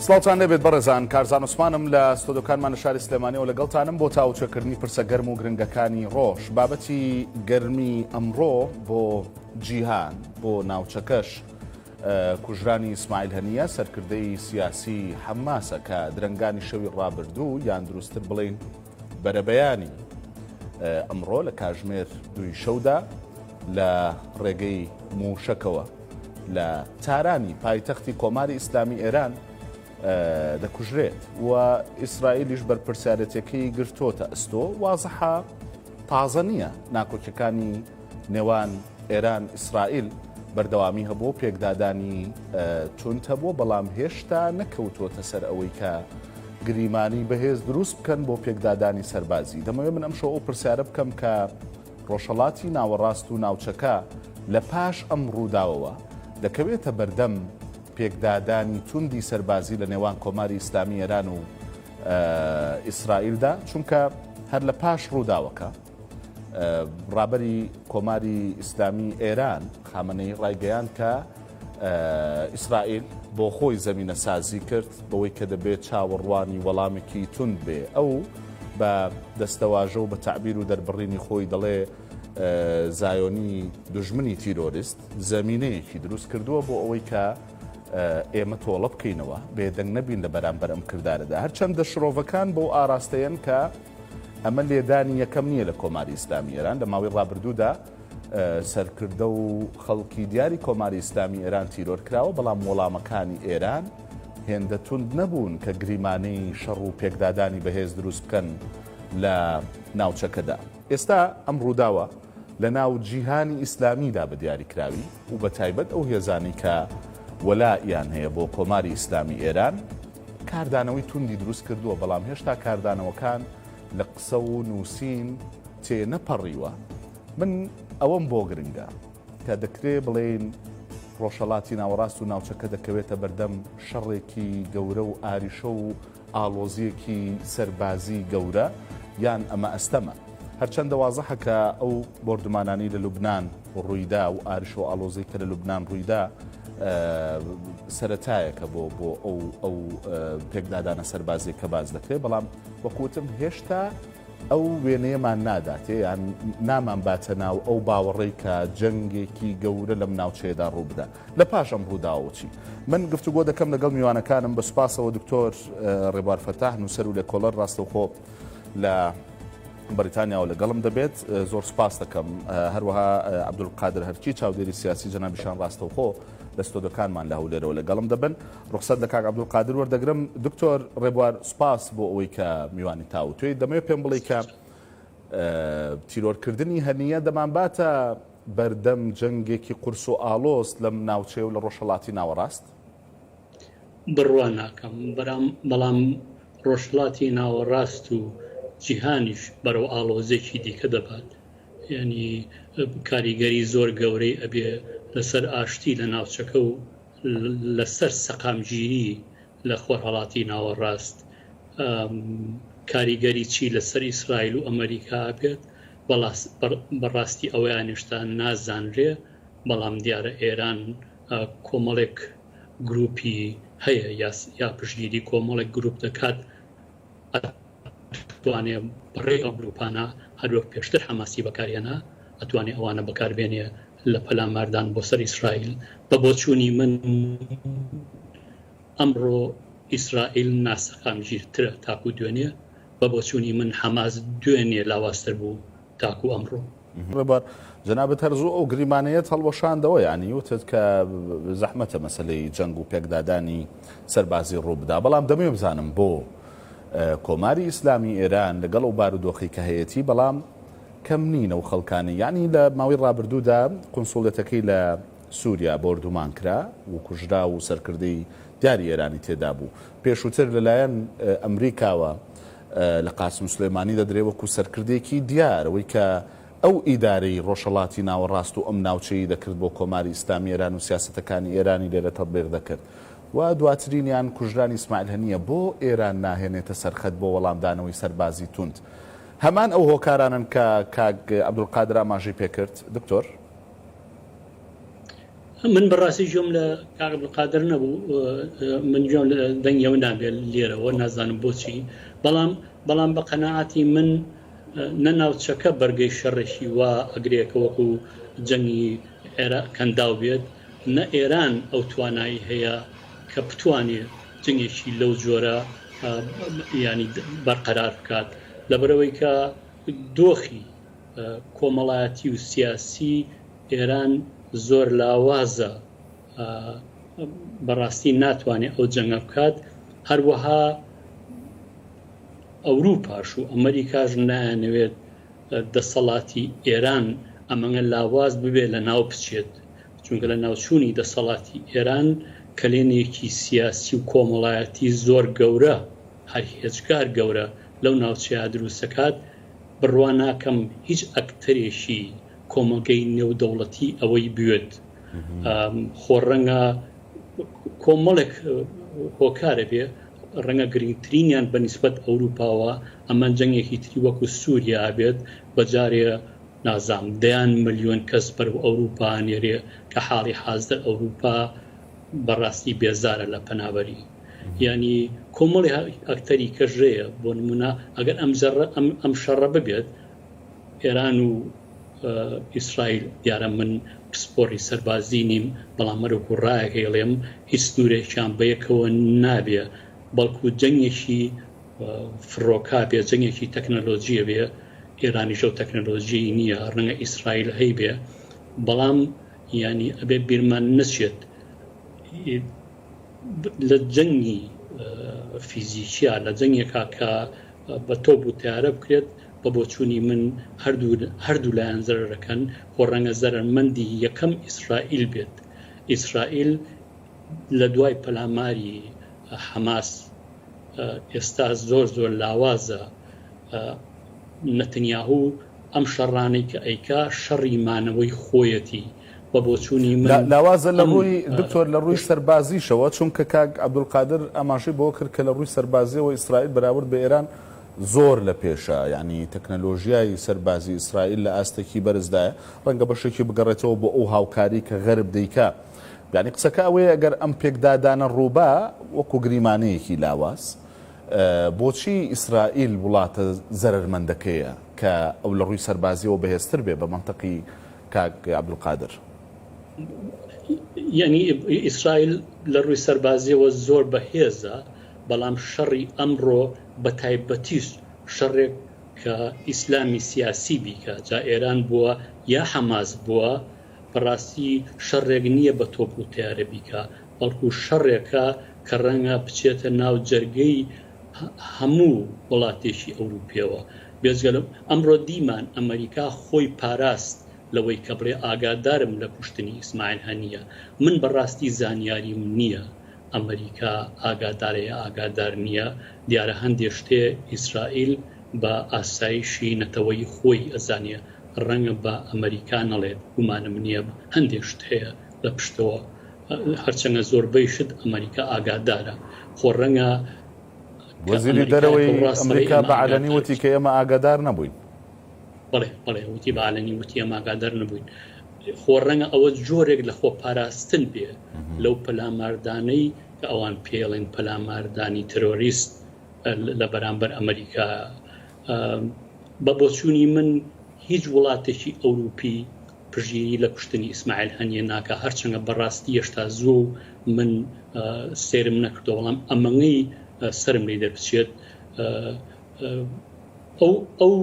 سڵاوتان لێبێت بەڕێزان کارزان عوسمانم لە ستۆدۆکانمان لە شاری سلێمانیەوە لەگەڵتانم بۆ تاوچەکردنی پرسە گەرم و گرنگەکانی ڕۆژ بابەتی گەرمی ئەمڕۆ بۆ جیهان بۆ ناوچەکەش کوژرانی ئیسماعیل هەنیە سەرکردەی سیاسی حەماسە کە درەنگانی شەوی ڕابردوو یان دروستتر بڵین بەرەبەیانی ئەمڕۆ لە کاژمێر دوی شەودا لە ڕێگەی موشەکەوە لە تارانی پایتەختی کۆماری ئیسلامی ئێران دەکوژرێت و ئیسرائیلیش بەرپرسیارەتەکەی گرتۆتە ئەستۆ وازحە تازە نییە ناکۆکیەکانی نێوان ئێران ئیسرائیل بەردەوامی هەبووە و پێکدادانی توند هەبووە بەڵام هێشتا نەکەوتووەتە سەر ئەوەی کە گریمانی بەهێز دروست بکەن بۆ پێکدادانی سەربازی دەمەوێت من ئەمشەوە ئەو پرسیارە بکەم کە ڕۆژهڵاتی ناوەڕاست و ناوچەکە لە پاش ئەم ڕووداوەوە دەکەوێتە بەردەم پێکدادانی توندی سەربازی لە نێوان کۆماری ئیسلامی ئێران و ئیسرائیلدا چونکە هەر لە پاش ڕووداوەکە ڕابەری کۆماری ئیسلامی ئێران خامەنەی ڕایگەیان کە ئیسرائیل بۆ خۆی زەمینە سازی کرد بەوەی کە دەبێت چاوەڕوانی وەڵامێکی تون بێ ئەو بە دەستەواژە و بە تعبیر و دەربڕینی خۆی دەڵێ زایۆنی دژمنی تیرۆریست زەمینەیەکی دروست کردووە بۆ ئەوەی کە ئێمە تۆڵە بکەینەوە بێدەنگ نەبین لە بەرامبەر ئەم کردارەدا هەرچەندە شرۆڤەکان بۆ ئاراستەیەن کە ئەمە لێدانی یەکەم نییە لە کۆماری ئیسلامی ئێران لە ماوەی ڕابردوودا سەرکردە و خەڵکی دیاری کۆماری ئیسلامی ئێران تیرۆر کراوە بەڵام وەڵامەکانی ئێران هێندە توند نەبوون کە گریمانەی شەڕ و پێکدادانی بەهێز دروست بکەن لە ناوچەکەدا ئێستا ئەم ڕووداوە لە ناو جیهانی ئیسلامیدا بە دیاریکراوی و بە تایبەت ئەو هێزانی کە وەلا یان هەیە بۆ کۆماری ئیسلامی ئێران کاردانەوەی توندی دروست کردووە، بەڵام هێشتا کاردانەوەکان لە قسە و نووسین تێ نەپەڕیوە، من ئەوەم بۆ گرنگە کە دەکرێ بڵێین ڕۆژهەڵاتی ناوەڕاست و ناوچەکە دەکەوێتە بەردەم شەڕێکی گەورە و ئاریشە و ئاڵۆزییەکی سەربازی گەورە یان ئەمە ئەستەمە؟ هەرچەندە وازحە کە ئەو بۆردومانانەی لە لوبنان، ڕوویدا و ئارش و ئاڵۆزەی کە لە لوبنان ڕوویدا سەتایەکە بۆ بۆ ئەو ئەو پێکدادانە سەربازی کە باز دەکرێت بەڵام وەکوتم هێشتا ئەو وێنەیەمان ناداتێ یان نامان باتە ناو ئەو باوەڕی کە جەنگێکی گەورە لەم ناوچەیەدا ڕووبدا لە پاش ئەم ڕووداوچی من گفتوگۆ دەکەم لەگەڵ میوانەکانم بە سوپاسەوە دکتۆر ڕێبار فەتاح نووسەر و لە کۆڵەر ڕاستەوخۆ لە بەریتانیاوە لەگەڵم دەبێت زۆر سپاس دەکەم هەروەها عبدول قادر هەرچی چاودێری سیاسی جەنابیشان ڕاستەوخۆ لە ستۆدەکانمان لە هەولێرەوە لەگەڵم دەبن ڕخسەر لە کاک عبدول قادر وەردەگرم دکتۆر ڕێبوار سپاس بۆ ئەوەی کە میوانی تاو توێی دەمەوێت پێم بڵی کە تیرۆرکردنی هەنیە دەمانباتە بەردەم جەنگێکی قورس و ئالۆست لەم ناوچەیە و لە ڕۆژهڵاتی ناوەڕاست بڕوا ناکەم بەرام بەڵام ڕۆژهەڵاتی ناوەڕاست و جیهانیش بەرەو ئاڵۆزیەکی دیکە دەبات یانی کاریگەری زۆر گەورەی ئەبێ لەسەر ئاشتی لە ناوچەکە و لەسەر سەقامگیری لە خۆرهەڵاتی ناوەڕاست کاریگەری چی لەسەر ئیسرائیل و ئەمریکا بێت بەڕاستی ئەوەیان هێشتا نازانرێ بەڵام دیارە ئێران کۆمەڵێک گروپی هەیە یا پشگیری کۆمەڵێک گروپ دەکات توانێ بەڕێ ئەو گروپانە هەروەک پێشتر حەماسی بەکارێنا ئەتوانێ ئەوانە بەکاربێنێ لە پەلاماردان بۆ سەر ئیسرائیل بە بۆچوونی من ئەمڕۆ ئیسرائیل ناسەقامگیرترە تاکو دوێنێ بە بۆچوونی من حەماس دوێنێ لاواستر بوو تاکو ئەمڕۆ ڕێبوار جەنابت هەر زوو ئەو گریمانەیەت هەڵوەشاندەوە یانی وتت کە زەحمەتە مەسلەی جەنگ و پێکدادانی سەربازی ڕوو بدا بەڵام دەمێ بزانم بۆ کۆماری ئیسلامی ئێران لەگەڵ و بارودۆخی کە هەیەتی بەڵام کەم نینە و خەڵکانی یعنی لە ماوەی ڕابردوودا قنسوڵێتەکەی لە سووریا بۆردومان کرا و کوژرا و سەرکردەی دیاری ئێرانی تێدا بوو پێشووتر لەلایەن ئەمریکاوە لە قاسم سولێمانی دەدرێ وەکو سەرکردەیەکی دیار ئەوەی کە ئەو ئیدارەی ڕۆژهەڵاتی ناوەڕاست و ئەم ناوچەیی دەکرد بۆ کۆماری ئیسلامی ئێران و سیاسەتەکانی ئێرانی لێرە تەتبیق دەکرد و دواترینیان کوژرانی ئیسماعیل هەنییە بۆ ئێران ناهێنێتە سەرخەت بۆ وەڵامدانەوەی سەربازی توند هەمان ئەو هۆکارانەن کە کاک عەبدولقادر ئاماژەی پێکرد دکتۆر. من بەڕاستی جۆم لە کاک عبدالقادر نەبوو من جۆم لە دەنگی ئەو نابێت لێرەوە نازانم بۆچی بەڵام بەڵام بە قەنەعاتی من نە ناوچەکە بەرگەی شەڕێکی وا ئەگرێکە وەکو جەنگی عێرا کەنداو بێت نە ئێران ئەو توانایی هەیە کە بتوانێت جنگێکی لەو جۆرە ینی بەرقەرار بکات لەبەرەوەی کە دۆخی کۆمەڵایەتی و سیاسی ئێران زۆر لاوازە بەڕاستی ناتوانێت ئەو جەنگە بکات هەروەها ئەوروپاش و ئەمریکاش نایانەوێت دەسەڵاتی ئێران ئەمەگە لاواز ببێت لە ناو بچێت چونکە لە ناوچوونی دەسەڵاتی ئێران کەلێنێکی سیاسی و کۆمەڵایەتی زۆر گەورە هەر هێجگار گەورە لەو ناوچەیە دروستەکات بڕوا ناکەم هیچ ئەکتەرێکی کۆمەڵگەی نێودەوڵەتی ئەوەی بوێت خۆ ڕەنگە کۆمەڵێک هۆکارە بێ ڕەنگە گرنگترینیان بە نسبەت ئەوروپاوە ئەمە جەنگێکی تری وەکو سووریا بێت بەجارێ نازام دەیان ملیۆن کەس بەر و ئەوروپا نێرێ کە حاڵی حازدە ئەوروپا بەڕاستی بێزارە لە پەنابەری یانی کۆمەڵی ئەکتەری کەش ژەیە بۆ نمونە ئەگەر ئەم جەڕە ئەم شەڕە ببێت ئێران و ئیسرائیل دیارە من پسپۆری سەربازی نیم بەڵام مەرو گوڕایە هێڵێم هیچ سنوورێکیان بەیەکەوە نابێ بەڵکو جەنگێکی فڕۆکا بێ جەنگێکی تەکنەلۆژیە بێ ئێرانی ژەو تەکنەلۆژی نییە ڕەنگە ئیسرائیل هەی بێ بەڵام ینی ئەبێ بیرمان نەچێت لە جەنگی فیزیکیا لە جەنگێکا کە بە تۆپ و تارە بکرێت بە بۆچوونی من هەردوو لایەن زەرەکەن خۆ ڕەنگە زەرمەندی یەکەم ئیسرائیل بێت ئیسرائیل لە دوای پەلاماری حەماس ئێستا زۆر زۆر لاوازە نەتنیاهوو ئەم شەڕانەی کە ئەیکا شەڕی مانەوەی خۆیەتی بە بۆچوونی من لاوازە لە ڕووی دکتۆر لە ڕووی سەربازیشەوە چونکە کاک عەبدولقادر ئاماژەی بەوە کرد کە لە ڕووی سەربازیەوە ئیسرائیل بەراورد بە ئێران زۆر لە پێشە یانی تەکنەلۆژیای سەربازی ئیسرائیل لە ئاستێکی بەرزدایە ڕەنگە بەشێکی بگەڕێتەوە بۆ ئەو هاوکاری کە غەرب دەیکا یعنی قسەکە ئەوەیە ئەگەر ئەم پێکدادانە ڕووبا وەکو گریمانەیەکی لاواز بۆچی ئیسرائیل وڵاتە زەرمەندەکەیە کە ئەو لە ڕووی سەربازیەوە بەهێزتر بێ بە منتەقی کاک عبدالقادر. یەعنی ئیسرائیل لە ڕووی سەربازیەوە زۆر بە هێزە بەڵام شەڕی ئەمڕۆ بە تایبەتیش شەڕێک کە ئیسلامی سیاسی بیکا جا ئێران بووە یا حەماس بووە بە ڕاستی شەڕێک نییە بە تۆپ و تەیارە بیکا بەڵکو شەڕێکە کە ڕەنگە بچێتە ناو جەرگەی هەموو وڵاتێکی ئەوروپیەوە بێجگە لە ئەمڕۆ دیمان ئەمەریکا خۆی پاراست لەوەی کە بڵێ ئاگادارم لە کوشتنی ئیسماعیل هەنیە من بەڕاستی زانیاریم نیە ئەمەریکا ئاگادارە یا ئاگادار نیە دیارە هەندێ شتێ ئیسرائیل بە ئاسایشی نەتەوەیی خۆی ئەزانێ ڕەنگە بە ئەمەریکا نەڵێت گومانم نیە هەندێ شت هەیە لە پشتەوە هەرچەنە زۆربەی شت ئەمەریکا ئاگادارە خۆ رەنگە کە وەزیری ئەمەریکایە دەرەوەی کەو راستەوەی ئەمریکا ئەمە بە عەلەنی ئاگادار وتی کە ئێمە ئاگادار نەبووین. بەڵێ بەڵێ وتی بە عەلەنی وتی ئێمە ئاگادار نەبووین. خۆ رەنگە ئەوە جۆرێک لە خۆ پاراستن بێ لەو پەلاماردانەی کە ئەوان پێڵێن پەلاماردانی ترۆریست لە بەرامبەر ئەمەریکا. بە بۆچوونی من هیچ وڵاتێکی ئەوروپی پژیی لە کوشتنی ئیسماعیل هەنیە ناکا هەرچەنگە بەڕاستی یەشتا زووە و من سەیرم نەکردوە بەڵام ئەمەنگەی سەرم لی دەربچێت ئەو ئەو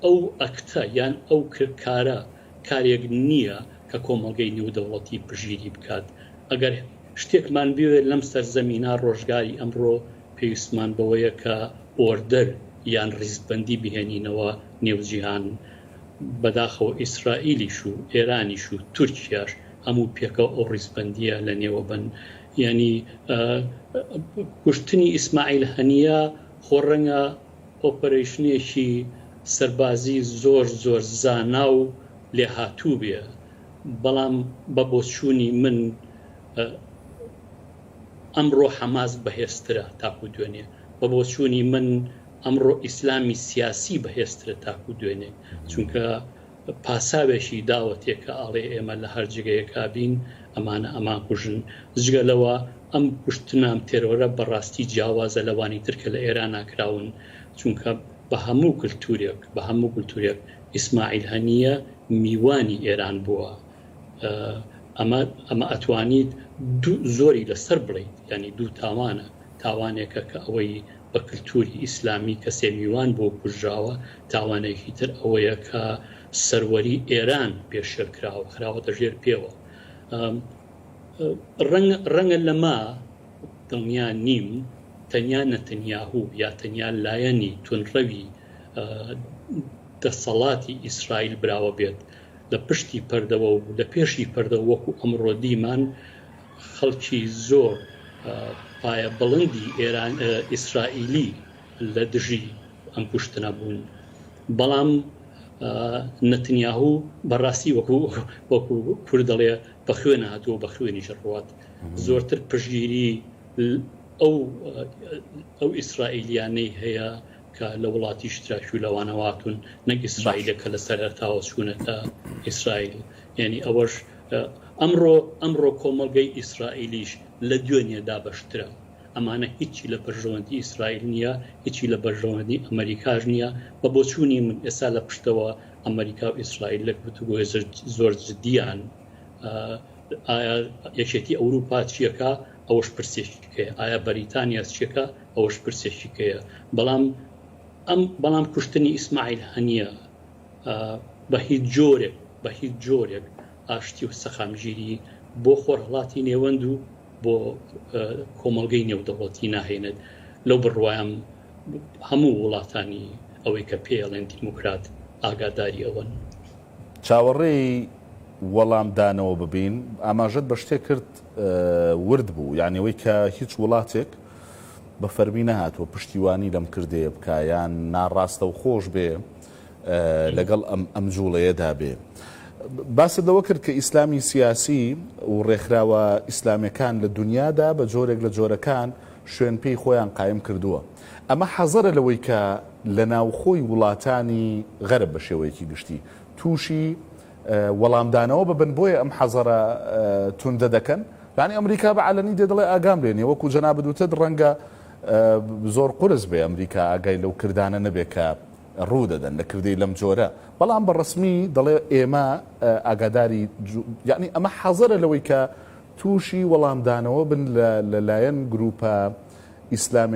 ئەو ئەکتە یان ئەو کارە کارێک نییە کە کۆمەڵگەی نێودەوڵەتی پژیی بکات ئەگەر شتێکمان بوێت لەم سەر زەمینا ڕۆژگاری ئەمڕۆ پێویستمان بەوەیە کە ئۆردەر یان ڕیزبەندی بهێنینەوە نێو جیهان بەداخەوە ئیسرائیلیش و ئێرانیش و تورکیاش هەموو پێکەوە ئەو ڕیزبەندیە لە نێوە بەن یانی کوشتنی ئیسماعیل هەنیە خۆ ڕەنگە ئۆپەرەیشنێکی سەربازی زۆر زۆر زانا و لێهاتوو بێ بەڵام بە بۆچوونی من ئەمڕۆ حەماس بەهێزترە تاکو دوێنێ بە بۆچوونی من ئەمڕۆ ئیسلامی سیاسی بەهێزترە تاکو دوێنێ چونکە پاساوێکی داوەتێ کە ئەڵێ ئێمە لە هەر جێگەیەکا بین ئەمانە ئەمانکوژن جگە لەوە ئەم کوشتنام تێرۆرە بەڕاستی جیاوازە لەوانی تر کە لە ئێرانا کراون چونکە بە هەموو کلتورێک بە هەموو کلتورێک ئیسماعیل هەنیە میوانی ئێران بووە ئەمە ئەمە ئەتوانیت دوو زۆری لەسەر بڵیت یانی دوو تاوانە تاوانێکە کە ئەوەی بە کلتوری ئیسلامی کەسێ میوان بۆ کوژراوە تاوانێکی تر ئەوەیە کە سەروەری ئێران پێشێل کراوە خراوەتە ژێر پێوە ڕەنگە لەما دڵنیا نیم تەنیا نەتەنیاهو یا تەنیا لایەنی تونڕەوی دەسەڵاتی ئیسرائیل براوە بێت لە پشتی پەردەوە و لە پێشی پەردە وەکو ئەمڕۆ دیمان خەڵکی زۆر پایە بڵندی ئیسرائیلی لە دژی ئەم کوشتنە بوون بەڵام نەتنیاهو بەڕاستی وەکو وەکو کورد دەڵێ بە خوێن هاتووە بە خوێنی ژڕوات زۆرتر پشگیری ئەو ئەو ئیسرائیلیانەی هەیە کە لە وڵاتی شتراکی و لەوانەواتون نەک ئیسرائیلەکە لە سەرتاوە چوونەتە ئیسرائیل یعنی ئەوەش ئەمڕۆ ئەمڕۆ کۆمەڵگەی ئیسرائیلیش لە دوێنێ دابەشترە. ئەمانە هیچی لە بەرژەوەندی ئیسرائیل نییە، هیچی لە بەرژەوەندی ئەمەریکاش نییە. بە بۆچوونی من ئێستا لە پشتەوە ئەمەریکا و ئیسرائیل لە گفتوگۆی زۆر جددیان. ئایا یەکێتی ئەوروپا چیەکە ئەوەش پرسێکیکەیە، ئایا بەریتانیا چیەکە ئەوەش پرسێکیکەیە، بەڵام ئەم بەڵام کوشتنی ئیسماعیل هەنیە بە هیچ جۆرێک بە هیچ جۆرێک ئاشتی و سەقامگیری بۆ خۆرهەڵاتی نێوەند و بۆ کۆمەڵگەی نێودەوڵەتی ناهێنێت لەو بڕوایم هەموو وڵاتانی ئەوەی کە پێڵێن دیموکرات ئاگاداری ئەوەن. چاوەڕێی وەڵام دانەوە ببین. ئاماژەت بە شتێک کرد ورد بوو یانی ئەوەی کە هیچ وڵاتێک بە فەرمی نەهاتووە پشتیوانی لەم کردەیە بکا یان ناڕاستەوخۆش بێ لەگەڵ ئەم جوڵەیەدا بێ. باست لەوە کرد کە ئیسلامی سیاسی و ڕێکخراوە ئیسلامەکان لە دنیادا بە جۆرێک لە جۆرەکان شوێن پێی خۆیان قایم کردووە. ئەمە حەزەرە لەوەی کە لە ناوخۆی وڵاتانی غەرب بە شێوەیەکی گشتی تووشی وەڵامدانەوە ببن بۆیە ئەم حەزەرە توندە دەکەن. یانی ئەمریکا بە عەلەنی دێ دەڵێ ئاگام لێ نیە وەکو جەنابت وتت ڕەنگە زۆر قورس بێ ئەمریکا ئاگای لەو کردانە نەبێ کە ڕوو دەدەن لە کردەی لەم جۆرە، بەڵام بە ڕەسمی دەڵێ ئێمە ئاگاداری یەعنی ئەمە حەزەرە لەوەی کە تووشی وەڵامدانەوە بن لە لە لایەن گرووپە ئیسلامەکانی